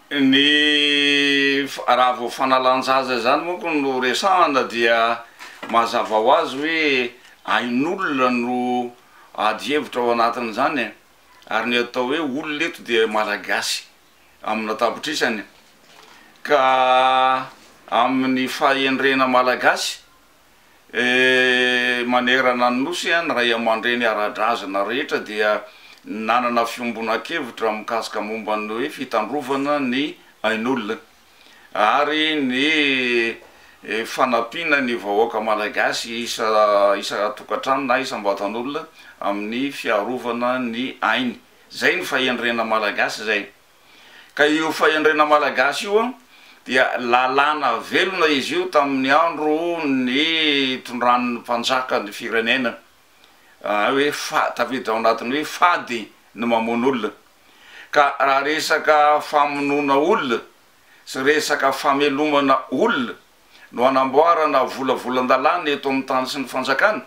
Ny raha vao fanalan-jaza izany manko no resahana dia mazava ho azy hoe ain'olona no ady hevitra ao anatin'izany e! ary ny atao hoe olona eto dia Malagasy amina tapitrisany ka amin'ny fahendrena Malagasy Manerana ny Nosy, ny ray aman-dreny ara-drazana rehetra dia nanana fiombonan-kevitra mikasika momba ny hoe fitandrovana ny ain'olona ary ny fanampiana ny vahoaka malagasy isa-tokantrano na isam-batan'olona amin'ny fiarovana ny ainy. Izay ny fahendrena malagasy izay. Ka io fahendrena malagasy io dia lalàna velona izy io tamin'ny andro nitondran'ny mpanjaka ny firenena hoe tafiditra ao anatin'ny hoe fady ny mamono olona. Ka raha resaka famonoana olona sy resaka famelomana olona no hanamboarana volavolan-dalàna eto amin'ny tany sy ny fanjakana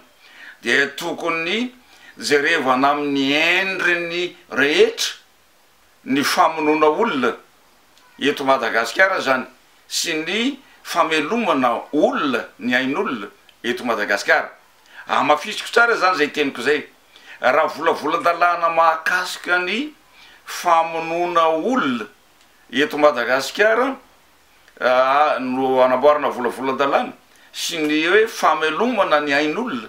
dia tokony jerevana amin'ny endriny rehetra ny famonoana olona eto Madagasikara izany sy ny famelomana olona ny ain'olona eto Madagasikara. Hamafisiko tsara izany izay teniko izay. Raha volavolan-dalàna mahakasika ny famonoana olona eto Madagasikara no hanamboarana volavolan-dalàna sy ny hoe famelomana ny ain'olona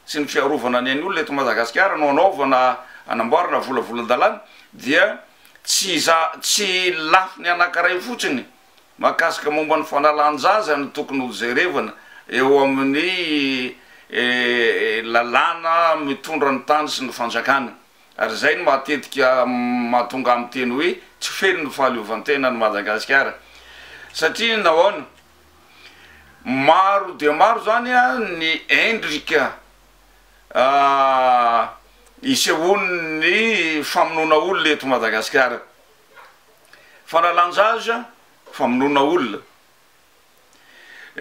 sy ny fiarovana ny ain'olona eto Madagasikara no anaovana anamboarana volavolan-dalàna dia tsy tsy lafiny anankiray fotsiny mahakasika momba ny fanalan-jaza no tokony ho jerevana eo amin'ny lalàna mitondra ny tany sy ny fanjakana ary izay no matetika mahatonga amin'ny teny hoe tsy feno ny fahaleovantenan'i Madagasikara satria nahoana? Maro dia maro izany ny endrika isehoan'ny famonoana olona eto Madagasikara. Fanalan-jaza, famonoana olona.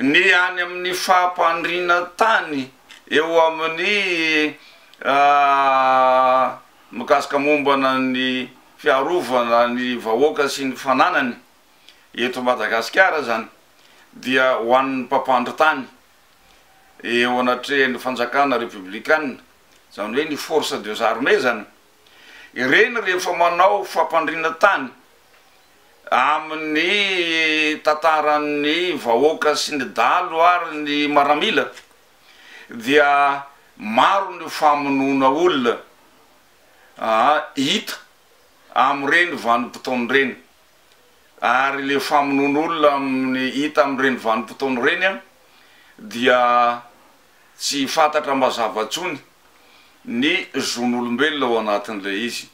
Ny any amin'ny fampandriana tany eo amin'ny mikasika mombana ny fiarovana ny vahoaka sy ny fananany. eto Madagasikara izany dia ho an'ny mpampandry tany eo anatrehan'ny fanjakana repiblikana, izany hoe ny forces des armées izany. Ireny rehefa manao fampandriana tany amin'ny tantaran'ny vahoaka sy ny dalo ary ny maramila dia maro ny famonoana olona hita amin'ireny vanim-potoana ireny. ary le famonoana olona amin'ny hita amin'ireny vanim-potoana ireny dia tsy fantatra mazava intsony ny zon'olombelona ao anatin'ilay izy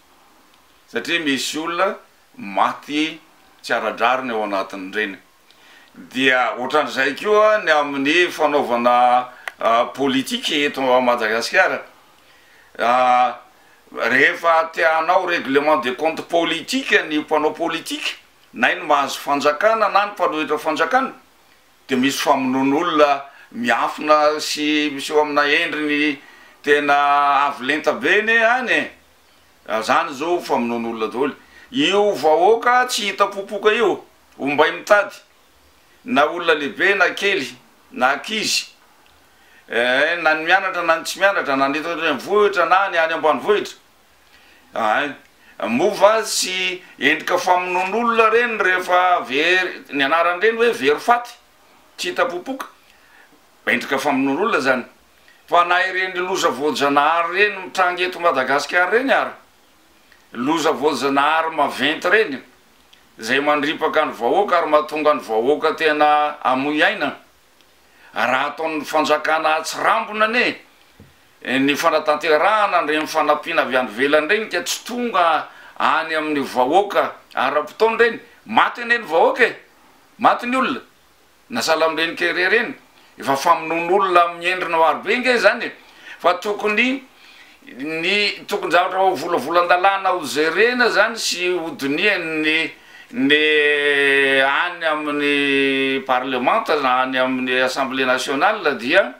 satria misy olona maty tsy ara-drariny ao anatin'ireny. dia ohatran'izay koa ny amin'ny fanaovana politique eto Madagasikara, rehefa te hanao règlement de compte politique ny mpanao politique na ny mahazo fanjakana na ny mpanohitra fanjakana dia misy famonoan'olona miafina sy miseho amina endriny tena avo lenta be ne any e! zany zao famonoan'olona daholo io vahoaka tsy hita popoka io. ombay mitady na olona lehibe na kely na ankizy eh na ny mianatra na ny tsy mianatra na ny eto an-drenivohitra na ny any ambanivohitra ay moa va tsy endrika famonoan'olona ireny rehefa very ny anaran'ireny hoe very faty tsy hita popoka endrika famonoan'olona izany fa na ireny loza voajanahary ireny mitranga eto Madagasikara ireny ary loza voajanahary maventy ireny izay mandripaka ny vahoaka ary mahatonga ny vahoaka tena hamoy aina, raha ataon'ny fanjakana atsirambina anie ny fanatanterahana ireny fanampiana avy any ivelany ireny ka tsy tonga any amin'ny vahoaka ara-potoana ireny, maty anie ny vahoaka e! maty ny olona, na salambe ny kere ireny, efa famonoana olona amin'ny endriny maro be ange izany e! fa tokony ny tokon-javatra ho volavolan-dalàna ho jerena izany sy ho dinihan'ny ny any amin'ny parlemanta na any amin'ny assemblée nationale dia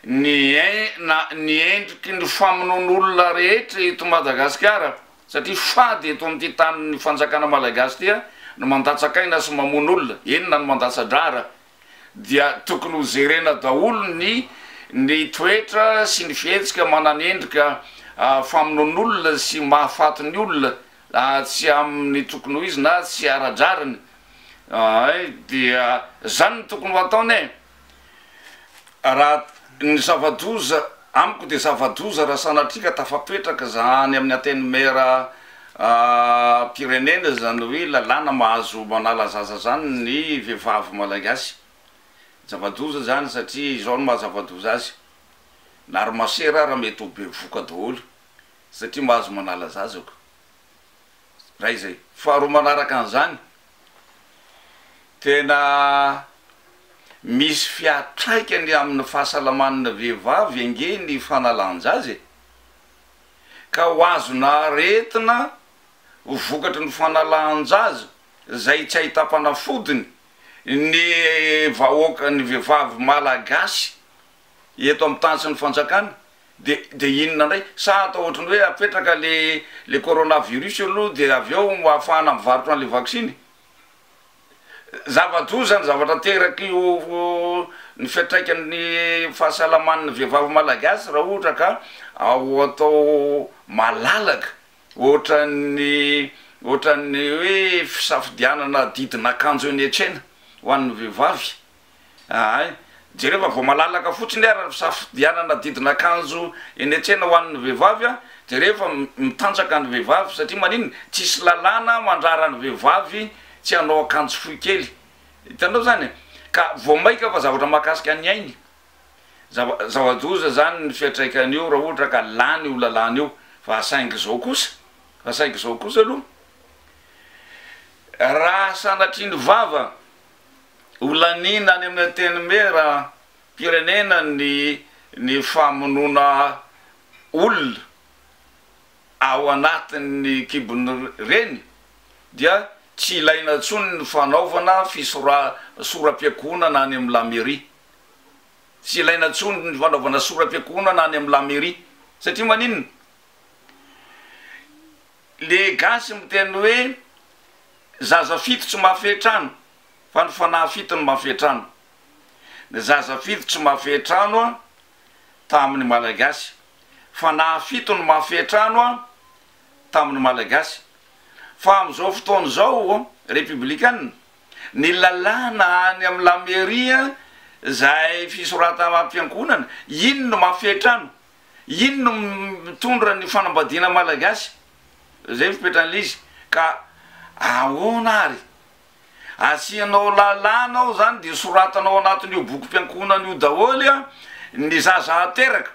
ny en-na ny endriky ny famonoana olona rehetra eto Madagasikara. satria fady eto amin'ity tanin'ny fanjakana Malagasy ity ny mandatsak'aina sy mamono olona, eny na ny mandatsa-drahara dia tokony ho jerena daholo ny ny toetra sy ny fihetsika manana endrika famonoan'olona sy mahafaty ny olona tsy amin'ny tokony ho izy na tsy ara-drariny, ay dia zany no tokony ho ataony e! Raha ny zava-doza, amiko dia zava-doza raha sanatria ka tafapetraka izany amin'ny Antenimieram-pirenena izany hoe lalàna mahazo manala zaza izany ny vehivavy Malagasy. Zava-doza izany satria izao no maha zava-doza azy, na ry masera ary mety ho bevoka daholo satria mahazo manala zaza ko. Iray izay. Faharoa manaraka an'izany, Tena misy fiatraikany amin'ny fahasalaman'ny vehivavy ange ny fanalan-jaza e! Ka ho azona aretina ho vokatry ny fanalan-jaza izay tsy ahitam-panafodiny ny vahoaka, ny vehivavy malagasy. eto amin'ny tany sy ny fanjakana dia dia inona indray? Sa atao ohatry ny hoe apetraka le le corona virus aloha dia avy eo hahafahana mivarotra an'ilay vaksiny? Zava-doza izany zavatra terak'io ny fiantraikan'ny fahasalaman'ny vehivavy malagasy raha ohatra ka ao atao malalaka ohatran'ny ohatran'ny hoe fisafidianana didin'akanjo eny an-tsena ho an'ny vehivavy. Ahay, jereo fa vao malalaka fotsiny ary ny fisafidianana didin'akanjo eny an-tsena ho an'ny vehivavy a, jereo fa mitanjaka ny vehivavy satria maninona, tsisy lalàna mandrara ny vehivavy tsy hanao akanjo fohy kely, hitanao zany e? ka vao maika fa zavatra mahakasika ny ainy, zava, zava-doza zany ny fiantraikany eo raha ohatra ka lany io lalàna io, fa saingy zao kosa, fa saingy zao kosa aloha, raha sanatria ny vava Ho laniana any amin'ny Antenimieram-pirenena ny ny famonoana olona ao anatin'ny kibon'ny reny dia tsy ilaina intsony ny fanaovana fisora sora-piankohonana any amin'ny la mairie. Tsy ilaina intsony ny fanaovana sora-piankohonana any amin'ny la mairie satria maninona? Le gasy miteny hoe zaza fito tsy mafe trano fa ny fanahy fito no mafe trano. Ny zaza fito tsy mafe trano tamin'ny malagasy. Fanahy fito no mafe trano tamin'ny malagasy. Fa amin'izao fotoana izao Repiblikanina, ny lalàna any amin'ny la mairie izay fisoratana ampiangonana iny no mafe trano. Iny no mitondra ny fanambadiana malagasy, zay no fipetran'ilay izy, ka ahoana ary? Asianao lalàna ao zany de soratanao anatin'io bokim-piankohonana io daholo a, ny zaza hateraka,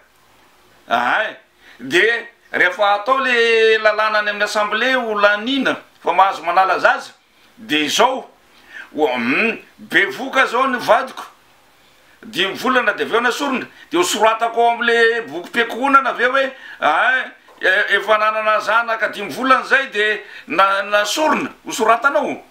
ahay, de rehefa atao le lalàna any amin'ny assemblée ho laniana fa mahazo manala zaza, Dia izao, humm bevoka zao ny vadiko, dimy volana dia avy eo nasorina, dia ho soratako ao amle bokim-piankohonana ve hoe ay efa nanana zanaka dimy volana zay de nasorina, ho soratanao?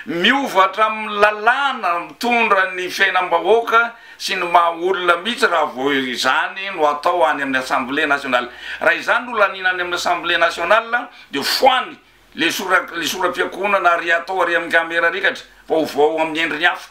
Miova hatramin'ny lalàna mitondra ny fiainam-bahoaka sy ny maha olona mihitsy raha vao izany no atao any amin'ny Assemblée nationale. Raha izany no laniana any amin'ny Assemblée nationale dia foany Le sora le sora-piakohonana ary atao ary amin'ny camera rikatra fa ho voa ao amin'ny endriny hafa.